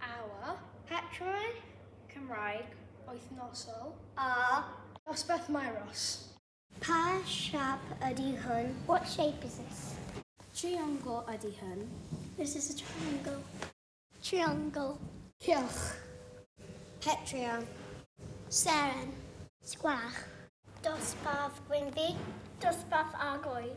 Awa, Petrau, Cymraeg, wythnosol. A, Dosbarth Maeros. Pa siap ydy hwn? What shape is this? Triongl ydy hwn. This is a triangle. Triongl. Cylch. Petrion. Seren. Sgwach. Dosbarth Gwynfi. Dosbarth Argoed.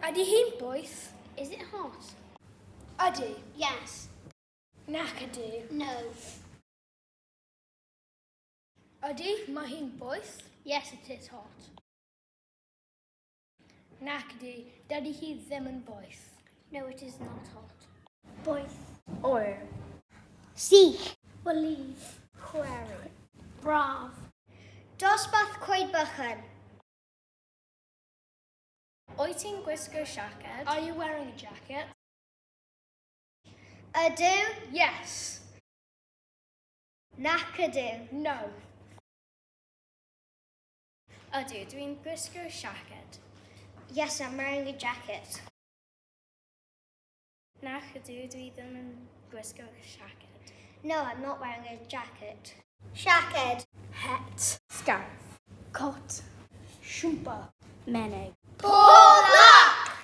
Ydy hi'n boeth? Is it hot? Ydy. Yes. Nac ydy. No. Ydy, mae hi'n boeth? Yes, it is hot. Nac ydy, dydy hi ddim yn boeth. No, it is not hot. Boeth. Oer. Sych. Believe. Query. Braf. Dosbarth cweid bychan. Wyt ti'n gwisgo siaced? Are you wearing a jacket? Ydw. Yes. Nac ydw. No. Ydw, dwi'n gwisgo siaced. Yes, I'm wearing a jacket. Nac ydw, dwi ddim yn gwisgo siaced. No, I'm not wearing a jacket. Siaced. Het. Scarf. Cot. Siwmper. Menig. Pob lwc!